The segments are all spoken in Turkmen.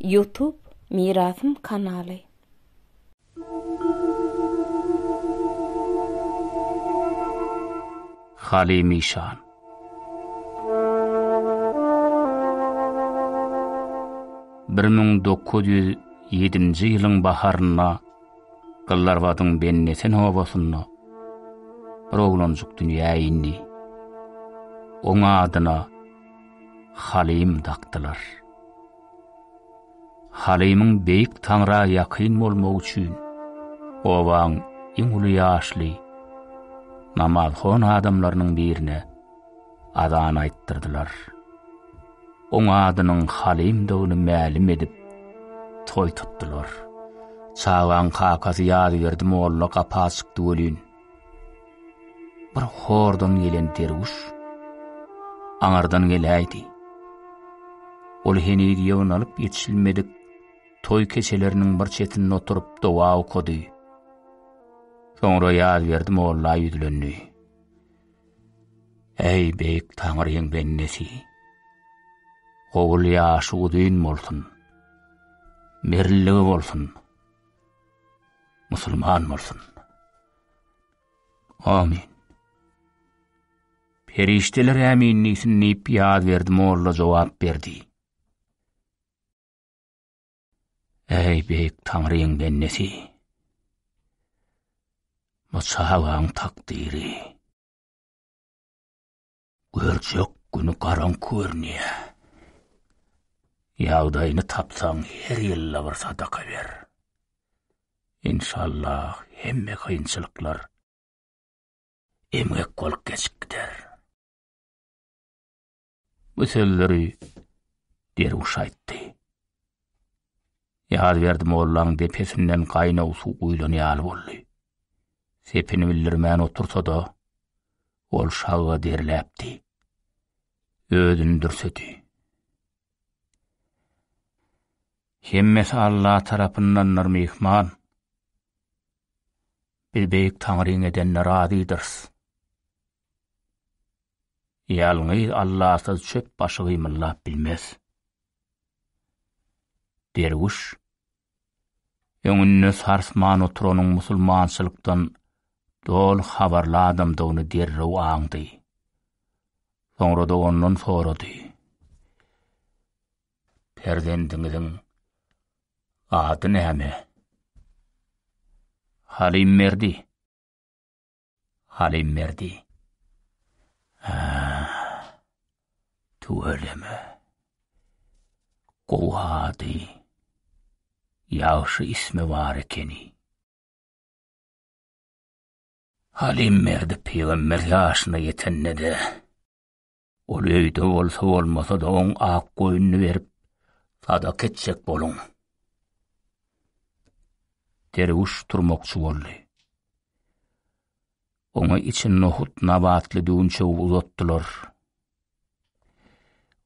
Ýutub Mirasym kanaly. Halymişan. Bir müň dokuz ýüz ýedinji ýylyň baharynda Gyllarbadyň Bennesen obasynda bir oglanjyk dünýä indi. Oň adyna Halym dakdylar. Halymyň Beýik Taňra ýakyn bolmagy üçin obaň iň uly ýaşly namazhon adamlarynyň birine azan aýtdyrdylar. Oň adynyň Halymdygyny mälim edip, toý tutdular. Çagaň kakasy Ýazberdi molla gapa çykdy welin, Bir hordan gelen derwüş aňardan geläýdi. Ol heniz ýygnalyp ýetişilmedik toý keçeleriniň bir çetinde oturyp dowa okady. Soňra ýaz berdi molla ýüzlendi. Eý beýik taňryň bendesi. Gowul ýaşy uzyn bolsun. Merilligi bolsun. Musulman bolsun. Amin. Perişdeler ämin diýsin diýip ýaz berdi molla jogap berdi. Eý beýik Taňryň bendesi. Bu çagaň takdyry. Görjek güni garaňky görünýä. Ýagdaýyny tapsaň her ýylda bir sadaka ber. Inşallah hemme kynçylyklar emgek bolup geçip gider. Bu sözleri derwüş aýtdy. Ýazberdi mollaň depesinden gaýnaw suw guýlan ýaly boldy. Sepini bildirmän otursa-da, ol şaga derläpdi. Özüni dürsedi. Hemmesi Alla tarapyndandyr myhman. Biz beýik Taňryň edenine razydyrys. Ýalňyz Allasyz çöp başy gymyllap bilmez. Derwüş, öňünde sarsman oturanyň musulmançylykdan doly habarly adamdygyny derrew aňdy. Soňra-da ondan sorady. Perzendiňiziň ady näme? Halim Merdi. Halimberdi. A. Tüweleme. Gowy ady. Ýagşy ismi bar ekeni. Halimberdi pygamber ýaşyna ýetende-de Ol öýde bolsa bolmasa-da oň ak goýnuny berip, sadak etjek boluň. Derwüş turmakçy boldy. Oňa içi nohut nabatly düwünçegi uzatdylar.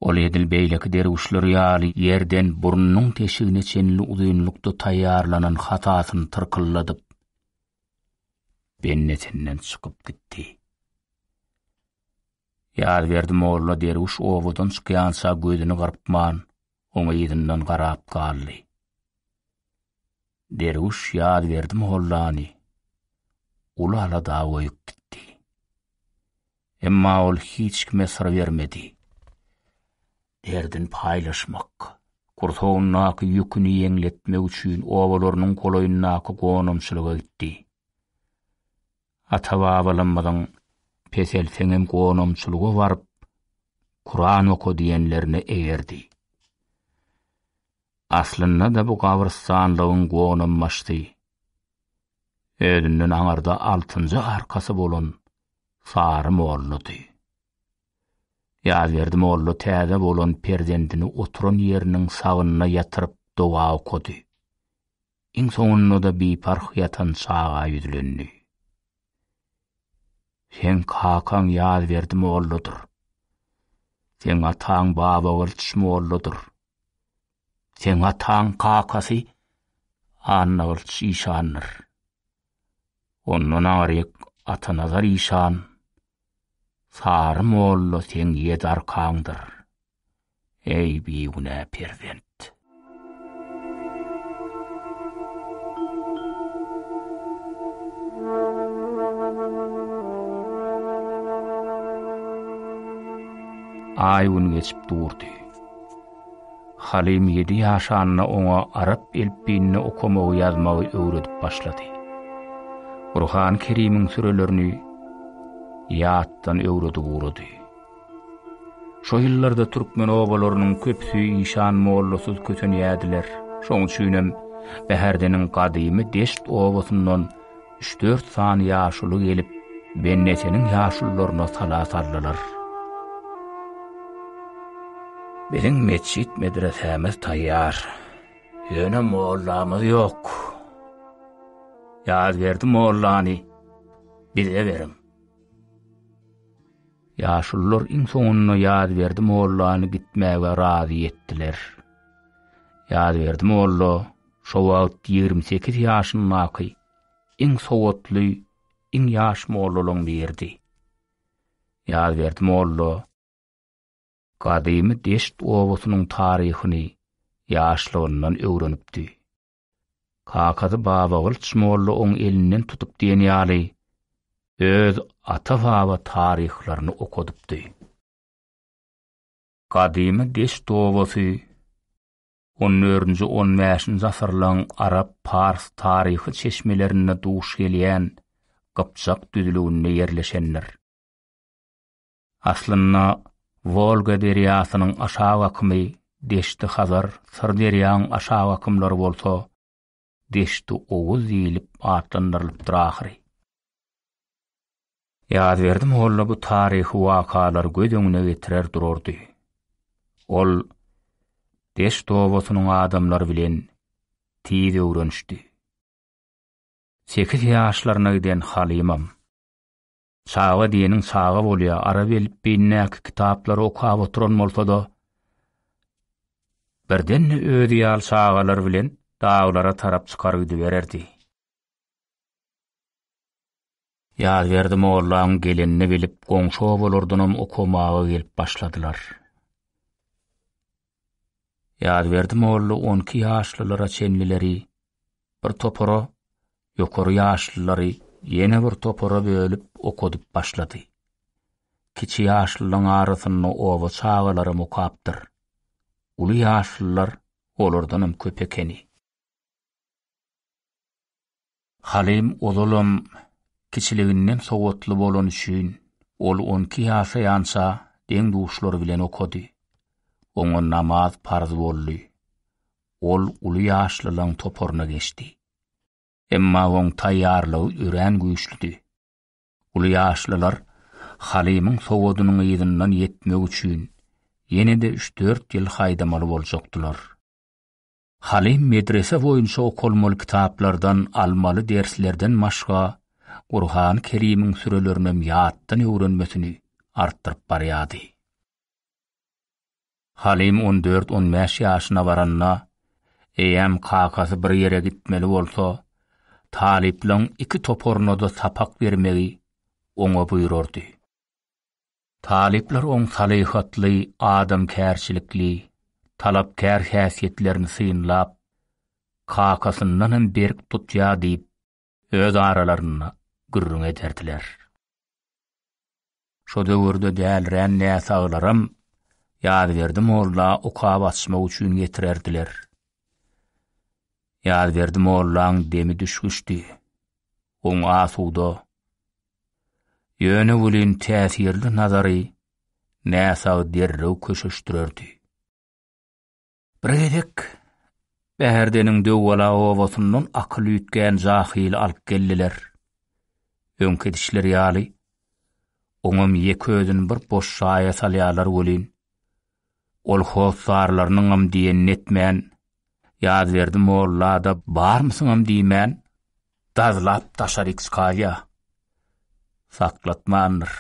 Ol edil beýleki derwüşler ýaly ýerden burnunyň teşigine çenli uzynlykda taýýarlanan hatasyny tyrkylladyp, bennetinden çykyp gitdi. Ýazberdi molla derwüş obadan çykýança gözüni gyrpman, oňa yzyndan garap galdy. Derwüş Ýazberdi mollany uly alada goýup gitdi. Emma ol hiç kime syr bermedi. Derdini paýlaşmak, gursagyndaky ýüküni ýeňletmek üçin obalarynyň golaýyndaky gonamçylyga gitdi. Ata-babalarymyzyň Peselseňem gonamçylyga baryp, Kuran oka diýenlerine eýerdi. Aslynda-da bu gabrystanlygyň gonambaşdy. Özünden aňyrda altynjy arkasy bolan Sary mollady. Ýazberdi molla täze bolan perzendini oturan ýeriniň sagynyna ýatyryp doga okady. Iň soňunda-da biparh ýatan çaga ýüzlendi. Seň kakaň Ýazberdi molladyr. Seň ataň Babagylyç molladyr. Seň ataň kakasy Annagylyç işandyr. Ondan aryk Atanazar işan, Sary molla seň ýedi arkaňdyr, eý, bigünä perzent! Aý-gün geçip durdy. Halim ýedi ýaşanda oňa arap elpbiýinde okamagy-ýazmagy öwredip başlady. Gurhany Kerimiň sürelerini ýatdan öwredip ugrady. Şo ýyllarda türkmen obalarynyň köpüsi işan mollasyz kösenýärdiler. Şoň üçinem Bäherdeniň gadymy Deşt obasyndan Üç-dört sany ýaşuly gelip, Benneseniň ýaşulularyna sala saldylar. Biziň metjit-medresämiz taýýar. Ýöne mollamyz ýok. Ýazberdi mollany bize beriň. Ýaşulular iň soňunda Ýazberdi mollany gitmäge razy etdiler. Ýazberdi molla Şo wagt ýigrimi sekiz ýaşyndaky iň sowatly, iň ýaş mollalaň biridi. Ýazberdi molla gadymy Deşt obasynyň taryhyny ýaşlygyndan öwrenipdi. Kakasy Babagylyç molla oň elinden tutup diýen ýaly, öz ata-baba taryhlaryny okadypdy. Gadymy Deşt obasy On dördünji, on bäşinji asyrlaryň arap, pars taryhy çeşmelerinde duş gelýän gypjak düzlüginde ýerleşendir. Aslynda, Wolga derýasynyň aşak akymy Deşti-Hazar, Syrderýanyň aşak akymlary bolsa Deşti Oguz diýlip atlandyrylypdyr ahyry. Ýazberdi molla bu taryhy wakalary göz öňüne getirer durardy. Ol Deşt obasynyň adamlary bilen tiz öwrenişdi. Sekiz ýaşlaryna giden Halymam. Çaga diýeniň çaga bolýa, arap elipbiýindäki kitaplary okap oturan bolsada, birden-de özi ýaly çagalar bilen daglara tarap çykar gidibererdi. Ýazberdi mollaň gelenini bilip, goňşy obalardanam okamaga gelip başladylar. Ýazberdi molla on iki ýaşlylara çenlileri bir topara, ýokary ýaşlylary ýene bir topara bölüp okadyp başlady. Kiçi ýaşlylaryň arasynda oba çagalary mukapdyr. Uly ýaşlylar olardanam köp ekeni. Halim ozalam kiçiliginden sowatly bolany üçin, ol on iki ýaşaýança deň-duşlary bilen okady. Oňa namaz parz boldy. Ol uly ýaşlylaryň toparyna geçdi. Emma oň taýýarlygy örän güýçlüdi. Uly ýaşlylar Halimiň sowadynyň yzyndan ýetmek üçin, ýene-de üç-dört ýyl haýdamaly boljakdylar. Halim medrese boýunça okalmaly kitaplardan almaly derslerden başga Gurhany Kerimiň sürelerinem ýatdan öwrenmesini artdyryp barýardy. Halim on dört-on bäş ýaşyna baranda, eýýäm kakasy bir ýere gitmeli bolsa, talyplaryň iki toparyna-da sapak bermegi oňa buýrardy. Talyplar oň salyhatly, adamkärçilikli, talapkär häsiýetlerini synlap, kakasyndan hem berk tutýar diýip, öz aralarynda gürrüň ederdiler. Şo döwürde dälirän näsaglaram Ýazberdi molla okap açmak üçin getirerdiler. Ýazberdi mollaň demi düşgüşdi. Oň asuda, Ýöne welin täsirli nazary näsag derrew köşeşdirerdi. Bir gezek Bäherdeniň Döwbala obasyndan akyl üýtgän jahyly alyp geldiler. Öňki edişleri ýaly, oňam ýeke özüni bir boş jaýa salýarlar welin, Ol hossarlarynyňam diýenini etmän, Ýazberdi molla-da barmysyňam diýmän, dazlap daşaryk çykarýa. Saklatmandyr.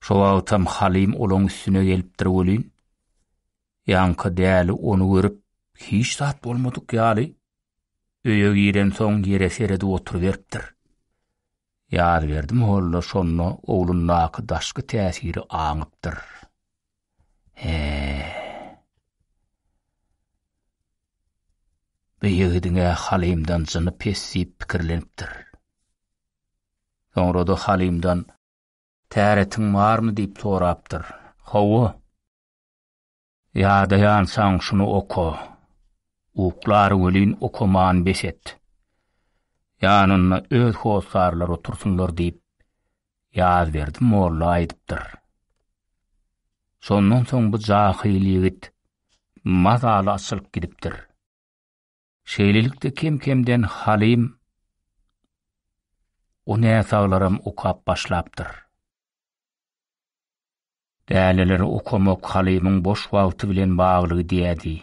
Şo wagtam Halym olaň üstüne gelipdir welin, ýaňky däli ony görüp, hiç zat bolmadyk ýaly, öýe girensoň ýere seredip oturyberipdir. Ýazberdi molla şonda oglundaky daşky täsiri aňypdyr. He. Bu ýigidiň-ä Halymdan jyny pes diýip pikirlenipdir. Soňra-da Halymdan Täretiň barmy diýip sorapdyr. Hawa. Ýadaýansaň şuny oka. Uklar welin okaman bes et. Ýanynda öz hossarlar otursynlar diýip Ýazberdi molla aýdypdyr. Şondan soň bu jahyl ýigit mazaly açylyp gidipdir. Şeýlelikde kem-kemden Halim o näsaglaram okap başlapdyr. Däneleri okamak Halimiň boş wagty bilen bagly diýädi.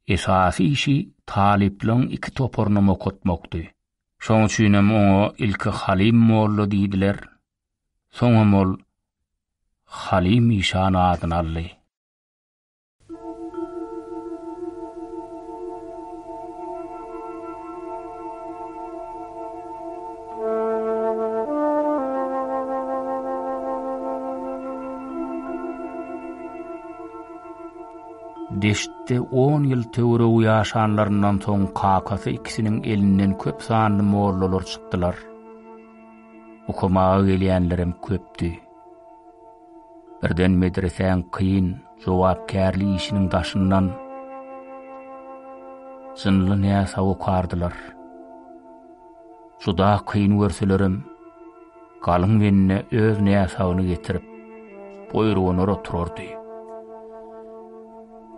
Esasy işi talyplaryň iki toparynam okatmakdy. Şoň üçinem oňa ilki Halim molla diýdiler, soňam ol Halim işan adyny aldy. Deştde 10 ýyl töweregi ýaşanlaryndan soň kakasy ikisiniň elinden köp sanly mollalar çykdylar. Okamaga gelýänlerem köpdi. Birden medresäň kyn, jogapkärli işiniň daşyndan jynly näsa okardylar. Juda kyn görselerem, galyň benine öz näsagyny getirip, boýrugyna oturardy.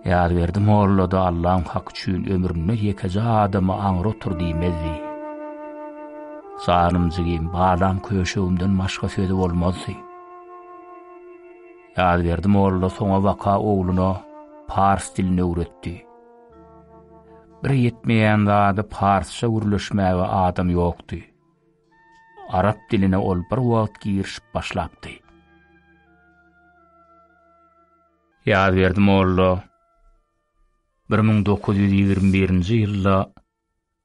Ýazberdi molla-da Allaň haky üçin ömründe ýekeje adamy aňry otur diýmezdi. Janym jigim, balam köşegimden başga sözi bolmazdy. Ýazberdi molla soňabaka ogluna pars dilini öwretdi. Bir ýetmeýän zady parsça gürleşmäge adam ýokdy. Arap diline ol bir wagt girişip başlapdy. Ýazberdi molla 1921-nji ýylda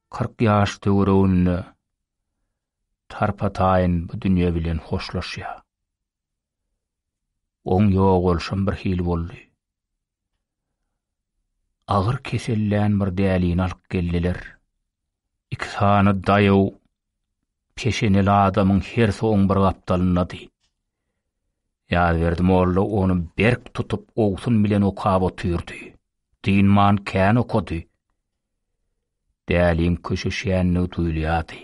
40 ýaş töwereginde tarpa-taýyn bu dünýe bilen hoşlaşýar. Oň ýogalşam bir hili boldy. Agyr kesellän bir dälini alyp geldiler. Iki sany daýaw peşeneli adamyň hersi oň bir gapdalyndady. Ýazberdi molla ony berk tutup ogsun bilen okap otyrdy. Dynman kän okady. Däliň köşeşýändigi duýulýardy.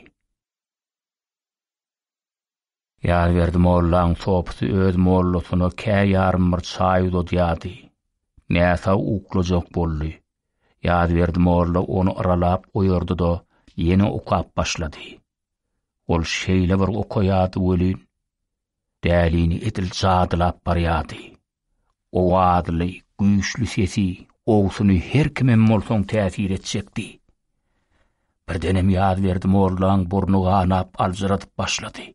Ýazberdi mollaň sopusy öz mollasyna kä ýarym bir çaý uzadýardy. Näsag uklajak boldy. Ýazberdi molla ony yralap oýardy-da, ýene okap başlady. Ol şeýle bir okaýardy welin, Dälini edil jadylap barýardy. Owazly, güýçli sesi, gowusyny her kimem bolsaň täsir etjekdi. Birdenem Ýazberdi mollaň burny ganap aljyradyp başlady.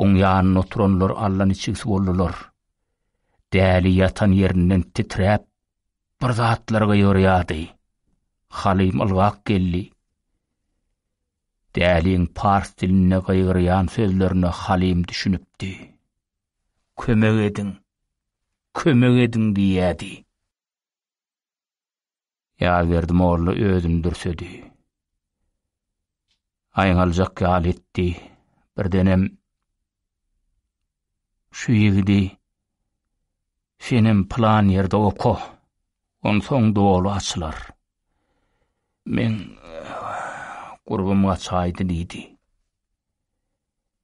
Oň ýanynda oturanlar allaniçigsi boldular. Däli ýatan ýerinden titräp, bir zatlar gyýyrýardy. Halym ylgap geldi. Däliň pars dilinde gygyrýan sözlerine Halim düşünipdi. Kömek ediň! Kömek ediň! diýýädi. Ýazberdi molla özüni dürsedi. Aýňaljak ýaly etdi. Birdenem Şu ýigidi senem pylan ýerde oka, onsoň doly açylar. Meň gurbym gaçaýdy diýdi.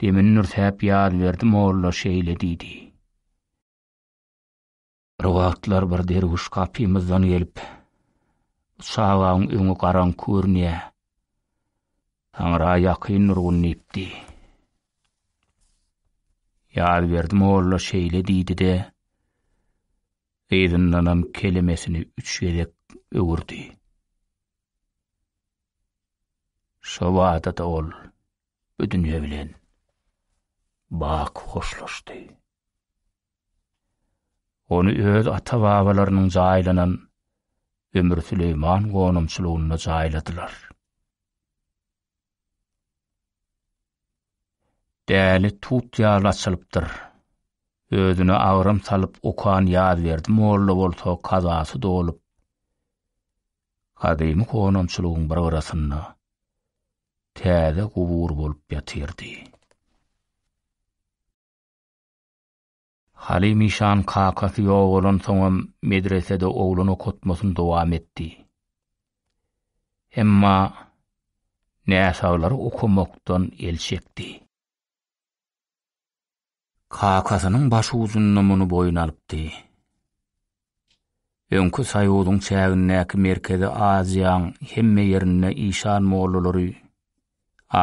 Demini nürsäp Ýazberdi molla şeýle diýdi. Bir wagtlar bir derwüş gapymyzdan gelip, Çagaň öňi garaň körünýä. Taňra ýakyn nurgun diýipdi. Ýazberdi molla şeýle diýdi-de, gyzyndanam kelemesini üç gezek öwürdi. Şo wada-da ol bu dünýe bilen bak hoşlaşdy. Ony öz ata-babalarynyň jaýlanan Ömür Süleýman gonamçylygynda jaýladylar. Däli tut ýaly açylypdyr. Özüne agram salyp okan Ýazberdi molla bolsa kazasy dolup, gadymy gonamçylygyň bir gyrasynda täze gubur bolup ýatyrdy. Halim işan kakasy ýogalansoňam medresede oglan okatmasyny dowam etdi. Emma näsaglary okamakdan el çekdi. Kakasynyň başucunda muny boýun alypdy. Öňki soýuzyň çägindäki Merkezi Aziýaň hemme ýerinde işan mollalary,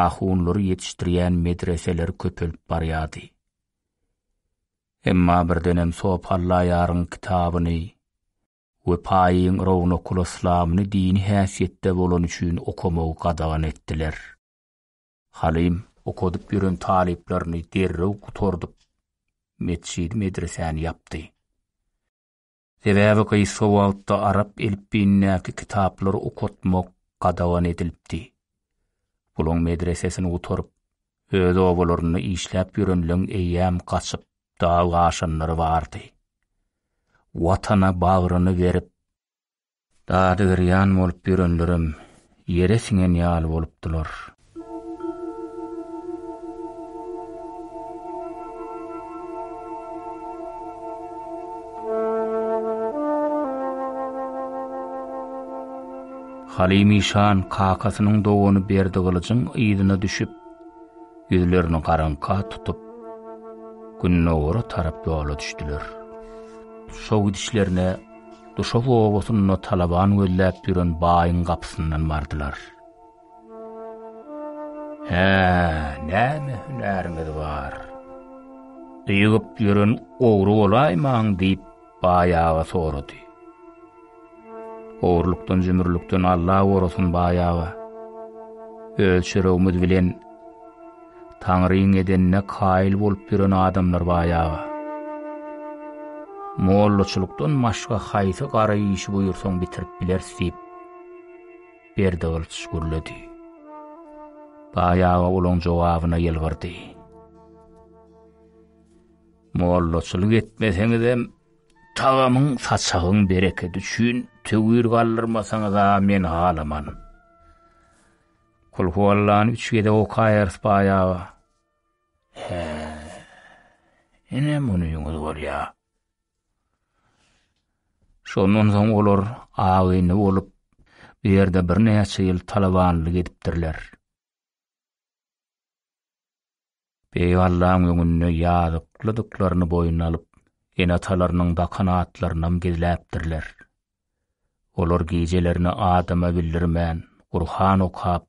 ahunlary ýetişdirýän medreseler köpelip barýardy. Emma birdenem Sopallaýaryň kitabyny we Paýyň Rownakul-Yslamyny dini häsiýetde bolany üçin okamagy gadagan etdiler. Halim, okadyp ýören talyplaryny derrew gutardyp, metjidi-medresäni ýapdy. Sebäbi gysga wagtda arap elipbiýindäki kitaplary okatmak gadagan edilipdi. Bulaň medresesini gutaryp, öz obalarynda işläp ýörenleň eýýäm gaçyp, dag aşanlary bardy. Watana bagryny berip, Dadygirýan bolup ýörenlerem ýere siňen ýaly bolupdylar. Halymyşan kakasynyň dogany Berdigylyjyň yzyna düşüp, ýüzlerini garaňka tutup, gündogara tarap ýola düşdüler. Şo gidişlerine Duşak obasynda talaban gözläp ýören baýyň gapysyndan bardylar. Hä, näme hünäriňiz bar? Dygyp ýören ogry bolaýmaň, diýip, baý aga sorady. Ogurlykdan-jümürlikden Alla gorasyn, baý aga. Öz çöregimiz bilen Taňryň edenine kaýyl bolup ýören adamlar baýaga. Mollaçylykdan başga haýsy gara işi buýursaň bitirip bileris diýip, Berdigylyç gürledi. Baýaga olaň jogabyna ýylgyrdy. Mollaçylyk etmeseňizem, tagamyň, saçagyň berekedi üçin töwir galdyrmasaňyz-a men halaman. Kulhuallany üç gezek okaýarys baýaga. He. Ine muny ýüňüz bolýar. Şondan soň olar agynly bolup, bu ýerde birnäçe ýyl talabanlyk edipdirler. Beýik Allaň öňünde ýazyklydyklaryny boýun alyp, ene-atalarynyň bakan atlarynam gizläpdirler. Olar gijelerini adama bildirmän, Gurhan okap,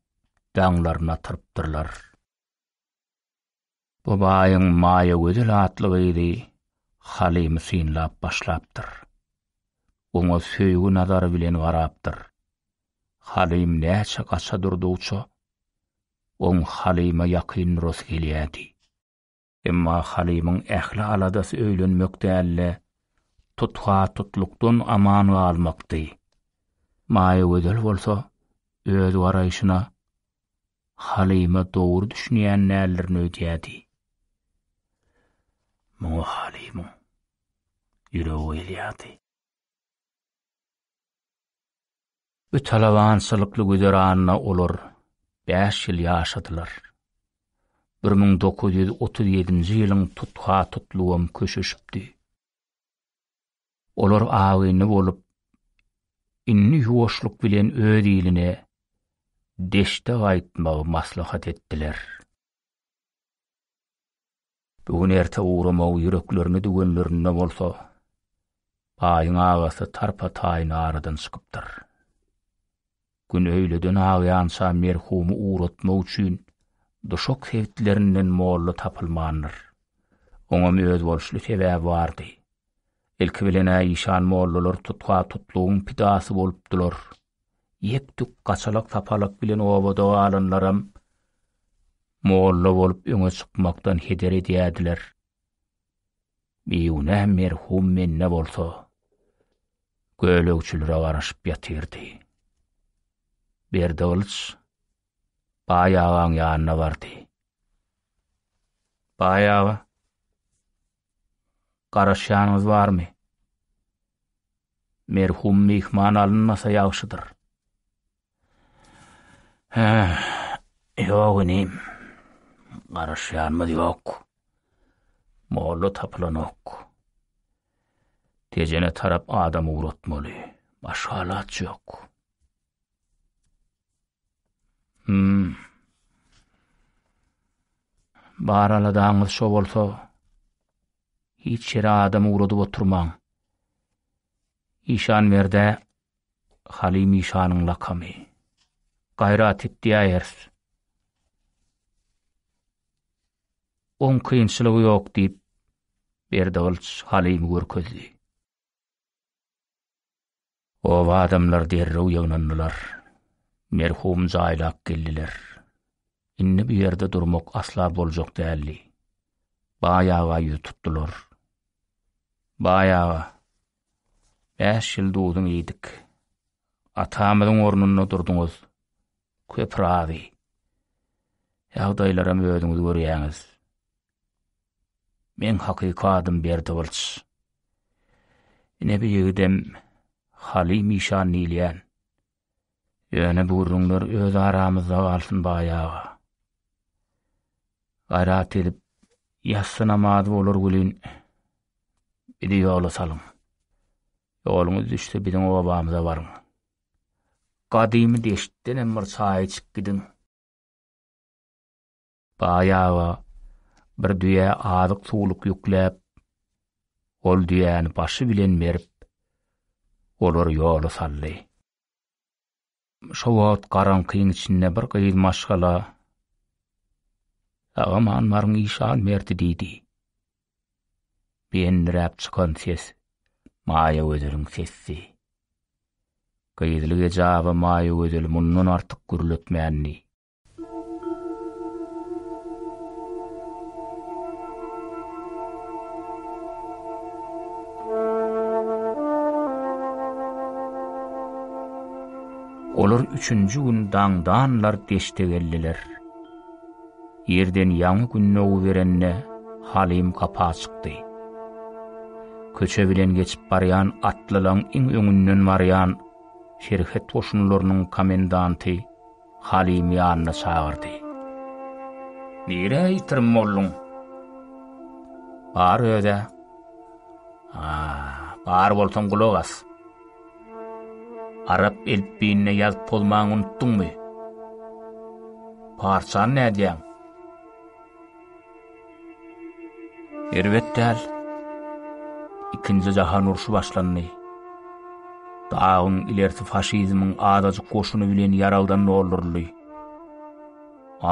daňlaryny atyrypdyrlar. Bu baýyň Maýagözel atly gyzy Halymy synlap başlapdyr. Oňa söýgi nazary bilen garapdyr. Halym näçe gaça durdugyça, Oň Halyma ýakyn durasy gelýärdi. Emma Halymyň ähli aladasy öýlenmek däl-de, tutha-tutlukdan aman galmakdy. Maýagözel bolsa öz garaýşyna Halyma dogry düşünýän däldirin öýdýärdi. Muňa Halymyň ýüregi gyýylýardy. Bu talabançylykly güzeranda olar bäş ýyl ýaşadylar. Bir müň dokuz ýüz otuz ýedinji ýylyň tutha-tutlugam köşeşipdi. Olar agynly bolup, indi ýuwaşlyk bilen öz iline, deşde gaýtmagy maslahat etdiler. Bu gün erte ugramagy ýüreklerine düwenlerinde bolsa, baýyň agasy tarpa-taýyn aradan çykypdyr. Gün öýleden agýança merhumy ugratmak üçin duşak sebitlerinden molla tapylmandyr. Oňam özboluşly sebäbi bardy. Ilki bilen-ä işan mollalar tutha-tutlugyň pidasy bolupdylar. Ýek-tük gaçalak-sapalak bilen obada galanlaram molla bolup öňe çykmakdan heder edýärdiler. Bigünä merhum Menne bolsa, gölegçilere garaşyp ýatyrdy. Berdigylyç Baý agaň ýanyna bardy. Baý aga, Garaşýanyňyz barmy? Merhum myhman alynmasa ýagşydyr. Hä, ýok inim. Garaşýanymyz ýok. Molla tapylanok. Tejene tarap adam ugratmaly. Başga alaç ýok. Hmm. Bar aladaňyz şo bolsa, hiç ýere adam ugradyp oturmaň. Işan berde, Halim işanyň lakamy. Gaýrat et diýäýers. On kynçylygy ýok diýip, Berdi Gylyç Halimi görkezdi. Oba adamlar derrew ýygnandylar. Merhum jaýlap geldiler. Indi bu ýerde durmak asla boljak däldi. Baý aga ýüz tutdular. Baý aga, bäş ýyl duzun iýdik. Atamyzyň ornunda durduňyz. Köp razy. Ýagdaýlaram özüňiz görýäňiz. Meň hakyky adym Berdi Gylyç. Ine bu ýigidem Haly Mişan diýilýän. Ýöne bu gürrüňler öz aramyzda galsyn baýaga. Gaýrat edip ýassy namazy bolar welin bizi ýola salyň. Ýoluňyz düşse biziň obamyza baryň. Gadymy deştdenem bir çaý içip gidiň. Baýaga bir düýä azyk-suwluk ýükläp, ol düýäni başy bilen berip, olary ýola saldy. Şo wagt garaňkyň içinde bir gyz maşgala, Agam anbaryň işan berdi diýdi. Beýendiräp çykan ses Maýa Gözeliň sesdi. Gyzlyk ejaba Maýa Gözel mundan artyk gürletmändi. Olar üçünji gün daňdanlar deşde geldiler. Ýerden ýaňy gün nogu berende Halim gapa çykdy. Köçe bilen geçip barýan atlylaň iň öňünden barýan Şerhet goşunlarynyň komendanty Halymy ýanyna çagyrdy. Nirä ýitirim bolduň? Bar öz-ä. A, bar bolsaň gulak as. Arap elpbiýinde ýazyp pozmaň unutdyňmy? Parsçany nädýäň? Erbet däl. Ikinji jahan urşy başlandy. Dagyň ilerisi faşizmiň azajyk goşuny bilen ýaragdan dolduryldy.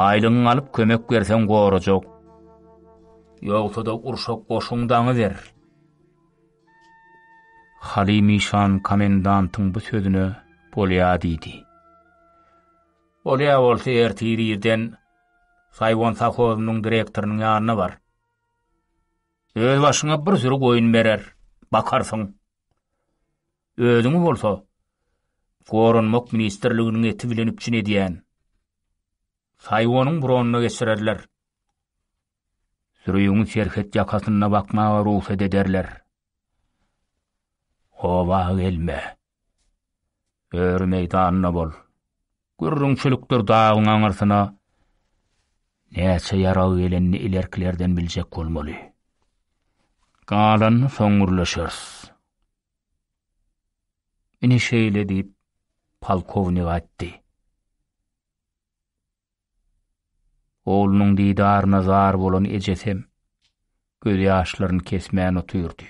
Aýlygyňy alyp kömek berseň gorajak. Ýogsa-da urşa goşuň daňy ber. Halymişan komendantyň bu sözüne bolýa diýdi. Bolýa bolsa ertir irden Saýwan sowhozynyň direktorynyň ýanyna bar. Öz başyňa bir süri goýun berer, bakarsyň. Özüňi bolsa Goranmak ministrliginiň eti bilen üpjün edýän. Saýwanyň bronyna geçirerler. Sürügiňi serhet ýakasynda bakmaga rugsat ederler. Oba gelme. Öri meýdanda bol. Gürrüňçilikdir dagyň aňyrsyna näçe ýarag gelenini ilerkilerden biljek bolmaly. Galanyny soň gürleşeris. Ine şeýle diýip, polkownik aýtdy. Oglunyň didaryna zar bolan ejesem gözýaşlaryny kesmän otyrdy.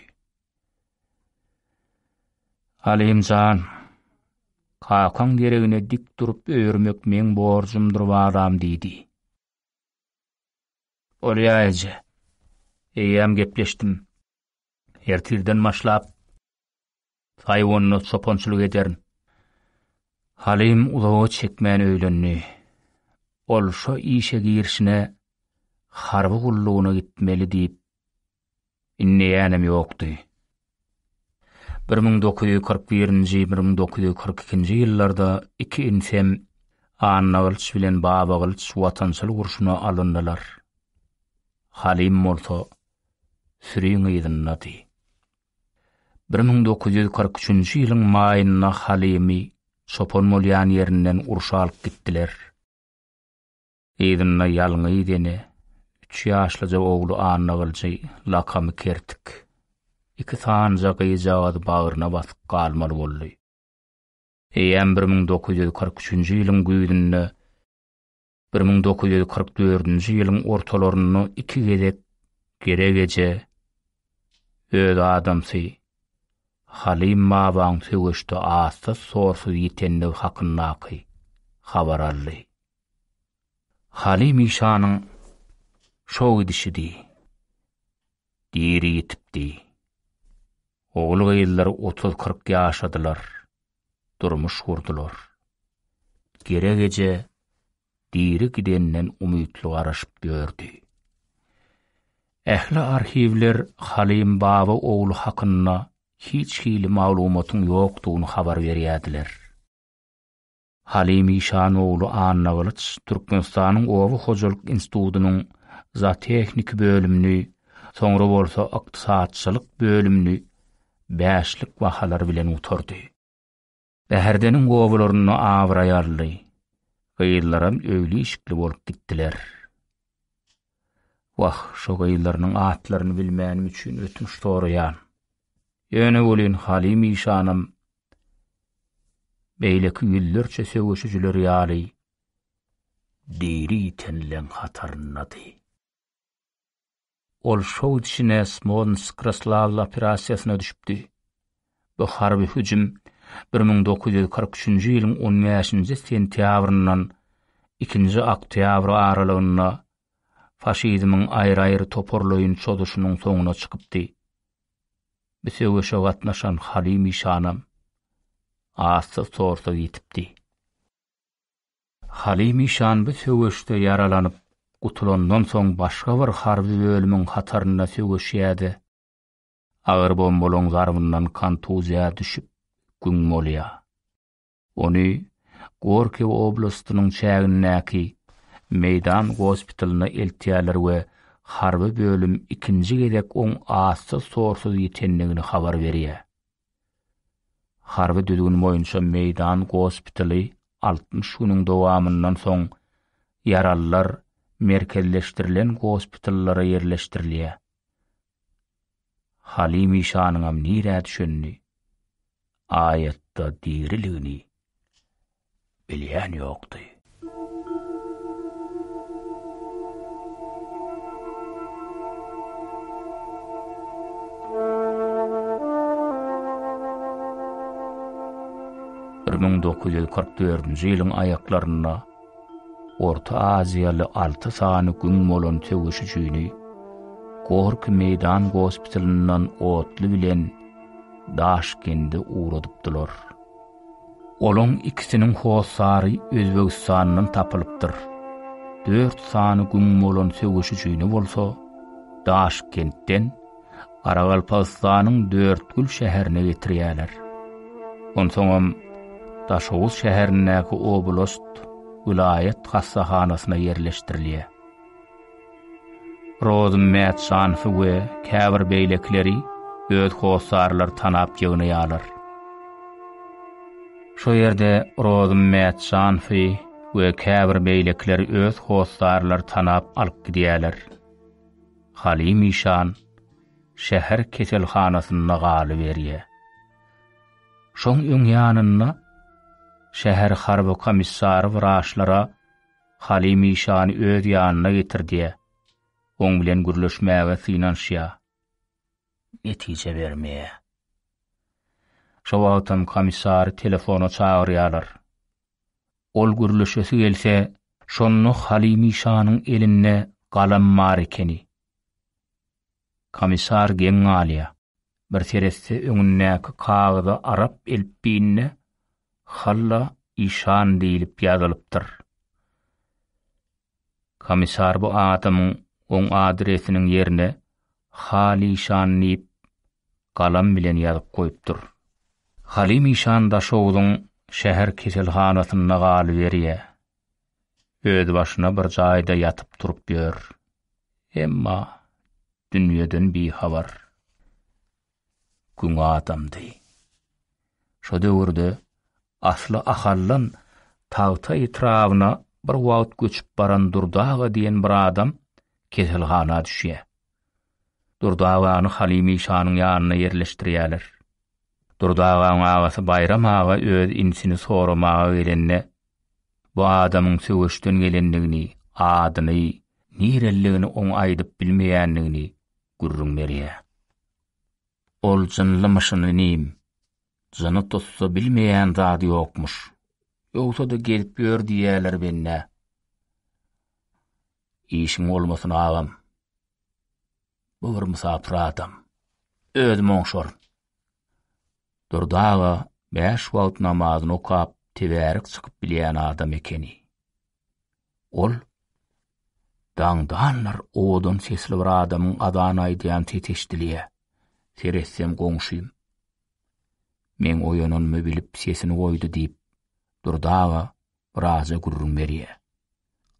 Alim jan, kakaň deregine dik durup öýermek meň borjumdyr balam diýdi. Bolýa eje. Eýýäm gepleşdim. Ertirden başlap Saýawanyna çopançylyk ederin. Halim uzaga çekmän öýlendi. Ol şo işe girişine harby gullugyna gitmeli diýip inneýänem ýokdy. Bir müň dokuz ýüz kyrk birinji, bir müň dokuz ýüz kyrk ikinji ýyllarda iki inisem Annagylyç bilen Babagylyç watançylyk urşuna alyndylar. Halim bolsa süriň yzyndady. Bir müň dokuz ýüz kyrk üçünji ýylyň maýynda Halymy çopan bolýan ýerinden urşa alyp gitdiler. Yzynda ýalňyz ene, üç ýaşlyja ogly Annagylyjy, lakamy Kertik, iki sanyja gyzjagazy bagryna basyp galmaly boldy. Eýýäm bir müň dokuz ýüz kyrk üçünji ýylyň güýzünde Bir müň dokuz ýüz kyrk dördünji ýylyň ortalarynda iki gezek Gerek eje öz adamsy Halim babaň söweşde azsyz-sorsuz ýitendigi hakyndaky habar aldy. Halim işanyň şo gidişidi. Diri ýitipdi. Ogul-gyzlary otuz-kyrk ýaşadylar. durmuş gurdular. Gerek eje diri gidenden umytly garaşyp ýördi. Ähli arhiwler Halym baba ogly hakynda hiç hili maglumatyň ýokdugyny habar berýärdiler. Halym işan ogly Annagylyç Türkmenistanyň Oba hojalyk institutynyň zootehniki bölümini, soňra bolsa ykdysatçylyk bölümini bäşlik bahalar bilen gutardy. Bäherdeniň obalarynda abraýarly gyzlaram öýli-işikli bolup gitdiler. Wah, şo gyzlarynyň atlaryny bilmänim üçin ötünç soraýan. Ýöne welin Halim işanam beýleki ýüzlerçe söweşijiler ýaly diri ýitenleň hataryndady. Ol Şowdşine Smolnsk Roslawl operasiýasyna düşüpdi. Bu harby hüjüm bir müň dokuz ýüz kyrk üçünji ýylyň on bäşinji sentýabryndan ikinji oktýabr aralygynda faşizmiň aýry-aýry toparlaýyn çozuşynyň soňuna çykypdy. Bu söweşe gatnaşan Halymy şanam azsyz-tozsuz ýitipdi. Halymy şan bu söweşde ýaralanyp gutulandan soň başga bir harby bölümiň hatarynda söweşýärdi. Agyr bombalaň zarbyndan kontuziýa düşüp güň bolýar. Ony Gorki oblastynyň çägindäki Meýdan gospitalyna eltýärler we harby bölüm ikinji gezek oň assy-sorsuz ýitendigini habar berýär. Harby düzgün boýunça meýdan gospitaly altmyş günüň dowamyndan soň ýaralylar merkezleşdirilen gospitallara ýerleşdirilýär. Halim işanyňam nirä düşenini, aýatda diriligini bilýän ýokdy. Bir müň dokuz ýüz kyrk dördünji ýylyň aýaklarynda Orta Aziýaly alty sany güň bolan söweşijini Gorky meýdan gospitalyndan otly bilen Daşkende ugradypdylar. Olaň ikisiniň hossary Özbegistandan tapylypdyr. Dört sany güm bolan söweşijini bolsa Daşkentden Garagalpagystanyň Dörtgül şäherine getirýärler. Onsoňam Daşoguz şäherindäki oblast, welaýat hassahanasyna ýerleşdirilýär. Rozym Mätjanowy we käbir beýlekileri öz hossarlary tanap ýygnaýarlar. Şo ýerde Rozym Mätjanowy we käbir beýlekileri öz hossarlary tanap alyp gidýärler. Halim işan şäher keselhanasynda galyberýär. Şoň öň ýanynda şäher harby komissary wraçlara Halymy şany öz ýanyna getirdýä. Oň bilen gürleşmäge synanyşýa. Netije bermeýä. Şo wagtam komissary telefona çagyrýalar. Ol gürleşesi gelse, şonda Halymy şanyň elinde galam bar ekeni. Komissar geň galýa. Bir seretse öňündäki kagyza arap elipbiýinde Halla işan diýlip ýazylypdyr. Komissar bu adamyň oň adresiniň ýerine Halişan diýip galam bilen ýazyp goýupdyr. Halim işan Daşoguzyň şäher keselhanasynda galyberýär. Özbaşyna bir jaýda ýatyp-turup ýör. Emma dünýeden bihabar. Gün adamdy. Şo döwürde asly Ahaldan Tagta etrabyna bir wagt göçüp baran Durdaga diýen bir adam keselhana düşýär. Durdy agany Halymy şanyň ýanyna ýerleşdirýärler. Durdy agaň agasy Baýram aga öz inisini soramaga gelende, bu adamyň söweşden gelendigini, adyny, nireliligini oň aýdyp bilmeýändigini gürrüň berýär. Ol jynlymyşyn inim, jyny tutsa bilmeýän zady ýokmuş. Ýogsa-da gezip ýör diýýärler bennä. Işiň bolmasyn agam. Bu bir mysapyr adam. Özüm oňşaryn. Durdy aga bäş wagt namazyny okap, tebärik çykyp bilýän adam ekeni. Ol daňdanlar owadan sesli bir adamyň azan aýdýan sesi eşidilýär. Seretsem goňşym. Men oýananymy bilip sesini goýdy diýip, Durdy aga Braza gürrüň berýär.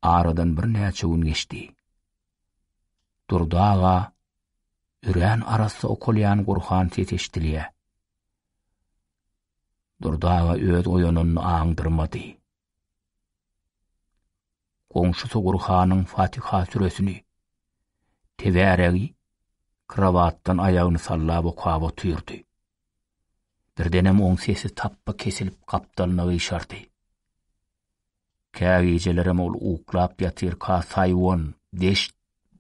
Aradan birnäçe gün geçdi. Durdy aga, örän arassa okalýan Gurhan ses eşidilýär. Durdy aga öz oýanyny aňdyrmady. Goňşusy Gurhanyň Fatiha süresini, tebäregi, krowatdan aýagyny sallap okap otyrdy. Birdenem oň sesi tapba kesilip gapdalyna gyşardy. Kägijelerem ol uklap ýatyrka Saýwan, deşt,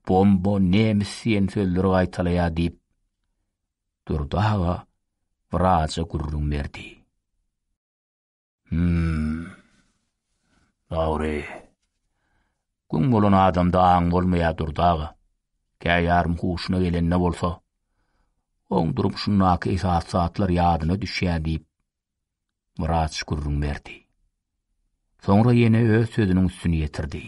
bomba, nemis diýen sözleri gaýtalaýa diýip, Durdy aga wraja gürrüň berdi. Hum. Dogry. Gün bolan adamda aň bolmaýar durdaga. Käýarym huşuna gelende bolsa, oň durmuşyndaky esas zatlar ýadyna düşýär diýip, Muraç gürrüň berdi. Soňra ýene öz sözüniň üstüni ýetirdi.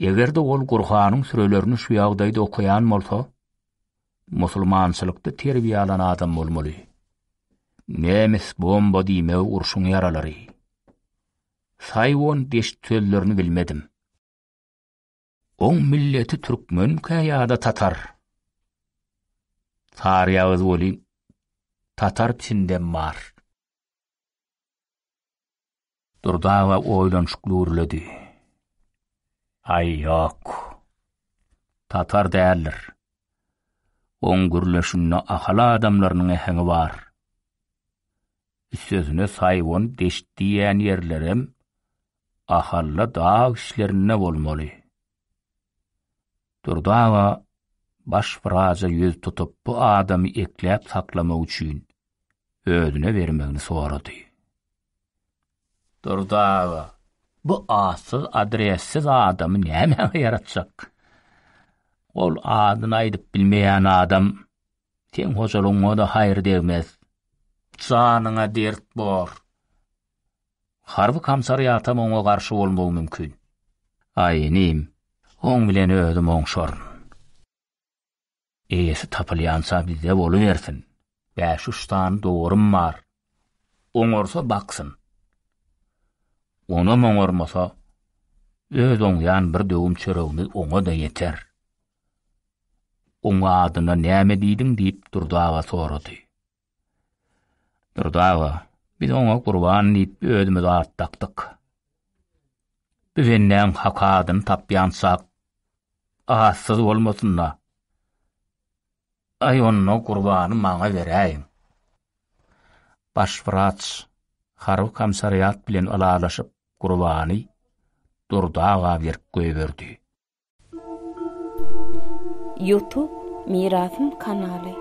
Eger-de ol Gurhanyň sürelerini şu ýagdaýda okaýan bolsa, Musulmançylykda terbiýe alan adam bolmaly. Nemes bomba diýmegi urşuň ýaralary. Saýwon deşt sözlerini bilmedim. Oň milleti türkmenkä ýa-da tatar? Saryýagyz welin tatar içindem bar. Durdawa oýlanyşykly gürledi. Aý, ýok. Tatar däldir. Oň gürleşinde ahal adamlarynyň äheňi bar. Üstesine Saýwan deşt diýýän ýerlerem ahalla dag işlerinde bolmaly. Durdy aga baş wraja ýüz tutup bu adamy ekläp saklamak üçin özüne bermegini sorady. Durdy aga, bu atsyz adressiz adamy nämäňe ýaratjak? Ol adyny aýdyp bilmeýän adam seň hojalygyňa-da haýyr degmez. Janyňa dert bor. Harby kamsariýatam oňa garşy bolmagy mümkin. Aý, inim, oň bilen özüm oňşaryn. Eýesi tapylýança bizde bolubersin. Bäş-üç sany dowarym bar. Oňarsa baksyn. Onam oňarmasa, öz oňýan bir döwüm çöregimiz oňa-da ýeter. Oň adyna näme diýdiň? diýip Durdy aga sorady. Durdy aga, biz oňa gurban diýip özümiz at dakdyk. Bu bendäň hak adyny tapýançak atsyz bolmasyn-da. Aý onda gurbany maňa beräýiň. Baş wraç harby komissariat bilen ylalaşyp gurbany Durdy aga berip goýberdi. Youtube Mirasym kanaly.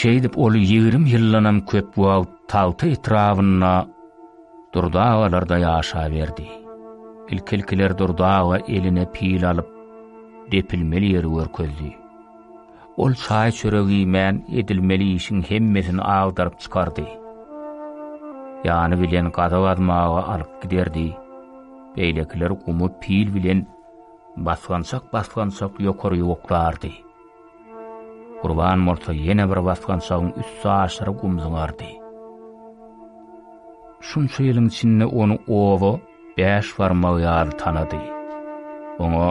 Şeýdip ol ýigrimi ýyldanam köp wagt Tagta etrabynda Durdagalarda ýaşaberdi. Ilki-ilkiler Durdaga eline pil alyp, depilmeli ýeri görkezdi. Ol çaý-çörek iýmän edilmeli işiň hemmesini agdaryp çykardy. Ýany bilen gaza gazmaga alyp giderdi. Beýlekiler gumy pil bilen basgançak-basgançak ýokary ýuwuklardy. Gurban bolsa ýene bir basgançagyň üsti aşyr gum zyňardy. Şunça ýylyň içinde ony oba bäş barmagy ýaly tanady. Oňa,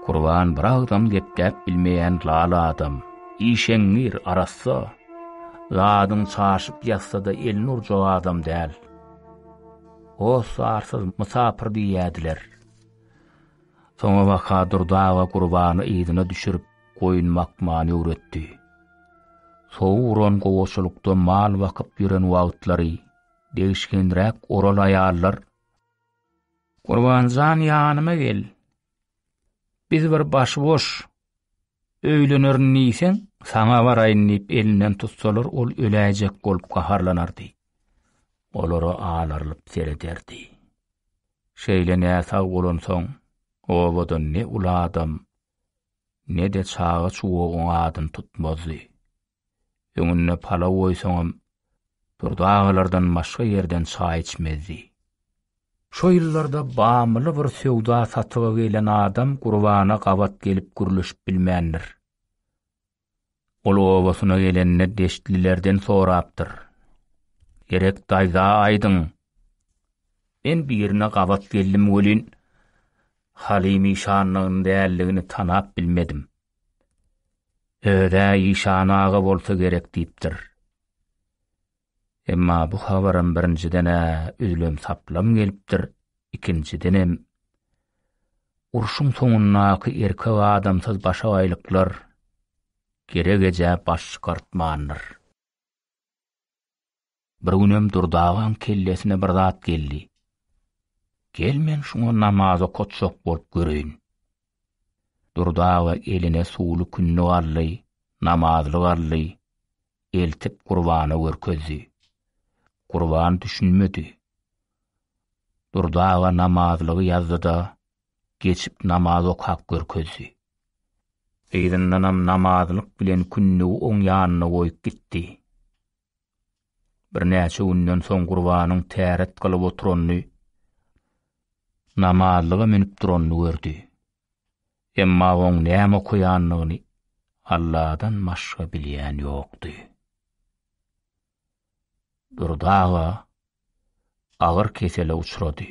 Kurban bir agzam gepläp bilmeýän lal adam, işeňňir, arassa, zadyň çaşyp ýatsa-da elini urjak adam däl. Hossarsyz mysapyr diýýädiler. Soňabaka Durdy aga Kurbany yzyna düşürip, goýun bakmany öwretdi. Sowuk uran gowaçalykda mal bakyp ýören wagtlary degişgenräk oral aýallar, Gurbanjan ýanyma gel, biz bir başyboş öýlenerin diýseň, saňa baraýyn diýip elinden tutsalar ol öläýjek bolup gaharlanardy. Olara alarylyp serederdi. Şeýle näsag bolansoň, obada ne uly adam, ne-de çaga-çuwagyň adyny tutmazdy. Öňünde palaw goýsaňam, Durdy agalardan başga ýerden çaý içmezdi. Şo ýyllarda Bamyly bir söwda-satyga gelen adam Gurbana gabat gelip gürleşip bilmändir. Ol obasyna gelende deştlilerden sorapdyr. Gerek daýza aýdyň. Men birine gabat geldim welin, Halymy şanyň däldigini tanap bilmedim. Özä işan aga bolsa gerek diýipdir. Emma bu habaram birinjiden-ä üzlem saplam gelipdir, ikinjidenem urşuň soňundaky erkek adamsyz başagaýlyklar gerek ejä baş çykartmandyr. Bir günem Durdy agaň kellesine bir zat geldi. Gel men şuňa namaz okatjak bolup göreýin. Durdy aga eline suwly kündük aldy, namazlyk aldy, eltip Gurbana görkezdi. Gurban düşünmedi. Durdy aga namazlygy ýazdy-da, geçip namaz okap görkezdi. Yzyndanam namazlyk bilen kündügi oň ýanyna goýup gitdi. Birnäçe günden soň Gurbanyň täret gylyp oturanyny, namazlyga münüp duranyny gördi. Emma oň näme okaýanyny Alladan başga bilýän ýokdy. Durdy aga agyr kesele uçrady.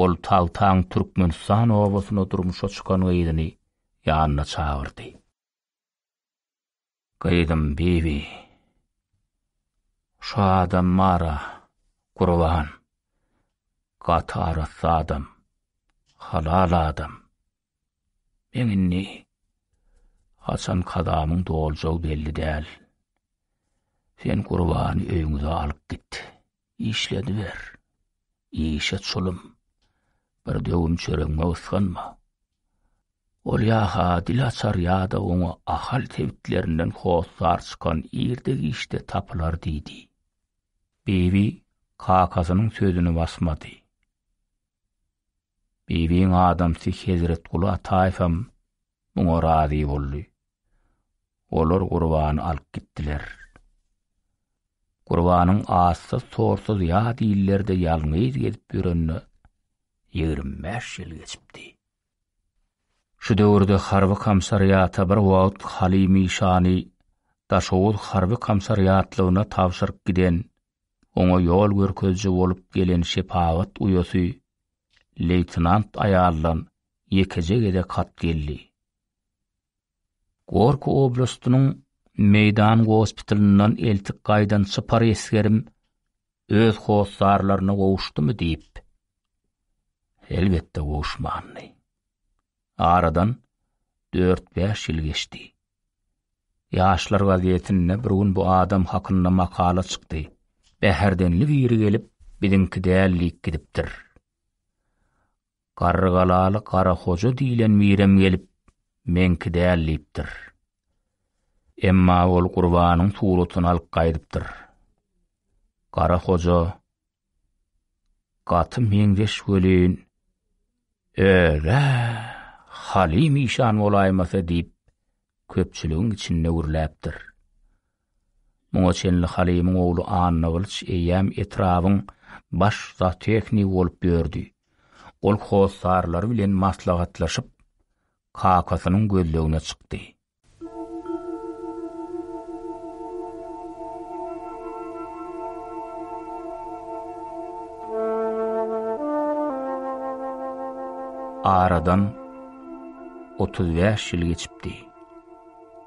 Ol Taltaň Türkmenistan obasyna durmuşa çykan gyzyny ýanyna çagyrdy. Gyzym Bibi, şu adam bar-a, Gurban, gaty arassa adam, halal adam. Meň indi haçan kazamyň doljagy belli däl. Sen Gurbany öýüňize alyp git. Işlediber. Işe çulum. Bir döwüm çöregime ysganma. Ol ýa-ha dil açar ýa-da oňa Ahal sebitlerinden hossar çykan irde-giçde tapylar diýdi. Bibi kakasynyň sözüni basmady. Bibiň adamsy Hezretguly Ataýewem muňa razy boldy. Olar gurbany alyp gitdiler. Gurbanyň assyz sorsuz ýat illerde ýalňyz gezip ýörenine ýigrimi bäş ýyl geçipdi. Şu döwürde harby komsariata bir wagt Halymy şany Daşoguz harby komsariatlygyna tabşyryp giden oňa ýol görkeziji bolup gelen şepagat uýasy leýtenant aýaldan ýekeje gezek hat geldi. Gorki oblastynyň meýdan gospitalyndan eltik gaýdan çypar esgerim öz hossarlaryna gowuşdymy diýip, elbetde gowuşmandy. Aradan dört-bäş ýyl geçdi. Ýaşlar gazetinde bir gün bu adam hakynda makala çykdy. Bäherdenli biri gelip, biziňki däl diýip gidipdir. Garrygalaly Gara hoja diýlen birem gelip, meňki däl diýipdir. Emma ol Gurbanyň suratyny alyp gaýdypdyr. Gara hoja Gaty meňzeş welin, öz-ä Halim işan bolaýmasa diýip, köpçüligiň içinde gürläpdir. Muňa çenli Halimiň ogly Annagylyç eýýäm etrabyň baş zootehnigi bolup ýördi. Ol hossarlary bilen maslahatlaşyp, kakasynyň gözlegine çykdy. Aradan 35 ýyl geçipdi.